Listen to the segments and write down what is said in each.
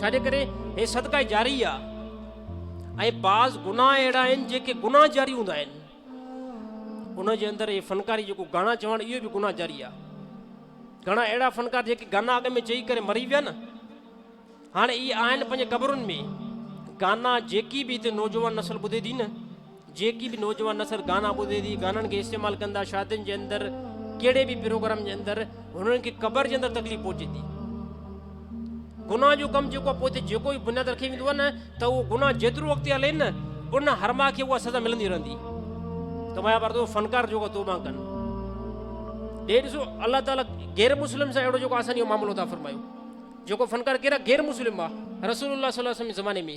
ڇاجي ڪري هي صدقه جاري آ ۽ بعض گناهه اهڙا آهن جيڪي گناهه جاري هوندا آهن ان جي اندر هي فنڪاري جيڪو گانا چوڻ اهو به گناهه جاري آ گھڻا اهڙا فنڪار جيڪي گانا اڳ ۾ چئي ڪري مري ويا نه هاڻي اهي آهن پنهنجي قبرن ۾ گانا جيڪي به هتي نوجوان نسل ٻڌي ٿي نه جيڪي به نوجوان نسل گانا ٻڌي ٿي گانن کي استعمال ڪن ٿا شادين جي اندر ڪهڙي به پروگرام جي اندر هنن کي قبر جي اندر تڪليف پهچي ٿي گناهه جو ڪم جيڪو پوء تي جيڪو به بنياد رکي ويندو نه ته اهو گناهه جيترو اڳتي هلي نه ان هرما کي اها سزا ملندي رهندي ته مايا پر تو فنڪار جيڪو توبه ڪن ڏي ڏسو الله تعالیٰ غير مسلم سان اهڙو جيڪو آسان جو معاملو ٿا فرمايو جيڪو فنڪار ڪهڙا غير مسلم آ رسول الله صلي الله عليه وسلم زماني ۾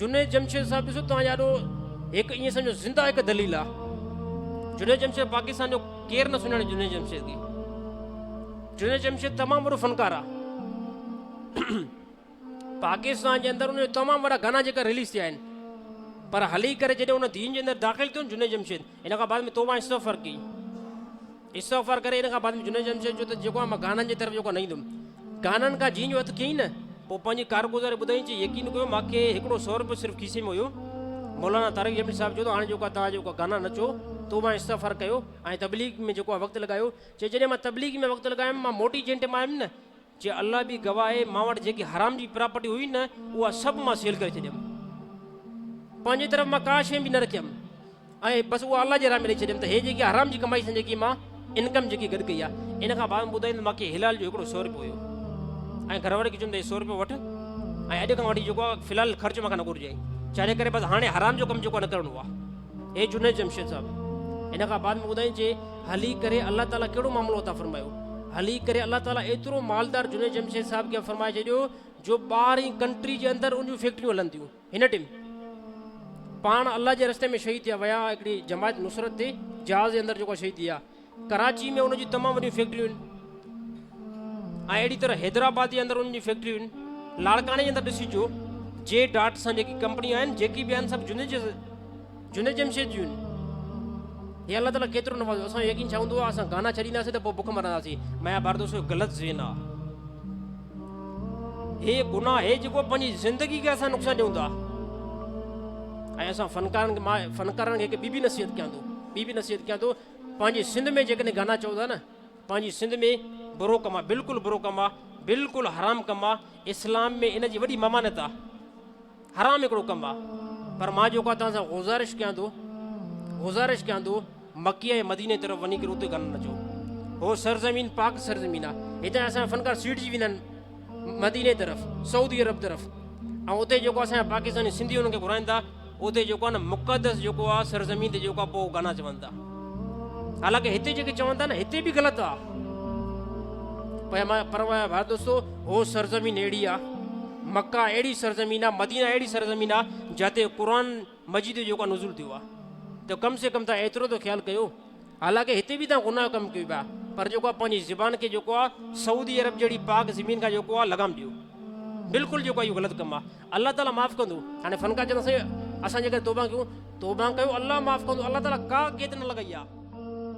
جنيد جمشيد صاحب ڏسو توهان جا ڏو هڪ ائين سمجھو زنده هڪ دليل آ جنيد جمشيد پاڪستان جو ڪير نه سڃاڻي جنيد جمشيد کي جنيد جمشيد تمام وڏو فنڪار آ پاڪستان جي اندر ان تمام وڏا گانا جيڪا ريليز ٿيا آهن پر هلي ڪري جڏهن ان دين جي اندر داخل ٿيو جنيد جمشيد ان کان بعد ۾ توبه استغفار ڪئي استغفار ڪري ان کان بعد ۾ جنيد جمشيد چيو ته جيڪو آهي مان گانن جي طرف جيڪو نه ايندم گانن کان جيئن جو هٿ ڪيئي نه پوء پنهنجي ڪارگذاري ٻڌائين چي يقين ڪيو مان کي هڪڙو سو روپيو صرف کيسي ۾ هيو مولانا طارق جمشيد صاحب چيو ته هاڻي جيڪو توهان جيڪو گانا نچو تو مان استغفار ڪيو ۽ تبليغ ۾ جيڪو وقت لڳايو چي جڏهن مان تبليغ ۾ وقت لڳايم مان موٽي جنهن ٽيم آيم نه چي الله به گواهه آهي مان وٽ جيڪي حرام جي پراپرٽي هئي نه اها سڀ مان سيل ڪري ڇڏيم پنهنجي طرف مان ڪا شيء به نه رکيم ۽ بس اها الله جي راهه ۾ ڏئي ڇڏيم ته هي جيڪي حرام جي ڪمائي سان جيڪي مان انڪم جيڪي گڏ ڪئي آهي ان کان بعد ٻڌائين ته ماکي حلال جو هڪڙو سو روپيو هيو ۽ گهر واري کي چيم ته هي سو روپيو وٺ ۽ اڄ کان وٺي جيڪو آهي في الحال خرچ مان کان نه گهرجي چاري ڪري بس هاڻي حرام جو ڪم جيڪو نه ڪرڻو آهي اي جنيد جمشيد صاحب ان کان بعد ۾ ٻڌائين جي هلي ڪري الله تعالي ڪهڙو معاملو عطا فرمايو هلي ڪري الله تعالي ايترو مالدار جنيد جمشيد صاحب کي فرمائي ڇڏيو جو ٻاهرين ڪنٽري جي اندر ان جون فيڪٽريون هلن ٿيون هن ٽيم پاڻ الله جي رستي ۾ شهيد ٿيا ويا هڪڙي جماعت نصرت تي جهاز جي اندر جيڪو شهيد ٿيا ڪراچي ۾ ان جون تمام وڏيون فيڪٽريون آهن ۽ اهڙي طرح حيدرآباد جي اندر ان جون فيڪٽريون آهن لاڙڪاڻي جي اندر ڏسجو جي ڊاٽ سان جيڪي ڪمپنيون آهن جيڪي به آهن سڀ جنهن جي جنهن جمشيد جون آهن هي الله تعالیٰ ڪيترو نوازو اسان جو يقين ڇا هوندو آهي اسان گانا ڇڏينداسين ته پوء بک مرنداسين ميا باردوس جو غلط ذهن آهي هي گناهه هي جيڪو پنهنجي زندگي کي اسان نقصان ڏيون ٿا ۽ اسان فنڪارن کي فنڪارن کي هڪ ٻي بي نصيحت ڪيان ٿو ٻي بي نصيحت ڪيان ٿو پنهنجي سنڌ ۾ جيڪڏهن گانا چئو ٿا نه پنهنجي سنڌ ۾ برو ڪم آ بلڪل برو ڪم آ بلڪل حرام ڪم آ اسلام ۾ ان جي وڏي ممانت آ حرام هڪڙو ڪم آ پر مان جيڪو توهان سان گذارش ڪيان ٿو گذارش ڪيان ٿو مکي ۽ مديني طرف وڃي ڪري اتي گانا نه چئو هو سرزمين پاڪ سرزمين آ هتان اسان فنڪار سيٽ جي ويندا آهن مديني طرف سعودي عرب طرف ۽ اتي جيڪو اسان پاڪستاني سنڌي انهن کي گهرائن ٿا اتي جيڪو آهي نه مقدس جيڪو آهي سرزمين تي جيڪو پوء گانا چون ٿا حالانڪه هتي جيڪي چون ٿا نه هتي به غلط آ پر ڀائر دوستو هو سرزمين اهڙي آ مکا اهڙي سرزمين آ مدينه اهڙي سرزمين آ جتي قرآن مجيد جو جيڪو نزول ٿيو آ ته ڪم سي ڪم تان ايترو ته خيال ڪيو حالانڪ هتي به تان گناهه ڪم ڪيو پيا پر جيڪو آ پنهنجي زبان کي جيڪو آ سعودي عرب جهڙي پاڪ زمين کان جيڪو آ لگام ڏيو بلڪل جيڪو آ اهو غلط ڪم آ الله تعالي معاف ڪندو هاڻي فنڪار چون سائين اسان جيڪر توبه ڪيون توبه ڪيو الله معاف ڪندو الله تعالي ڪا قيد نه لڳائي آ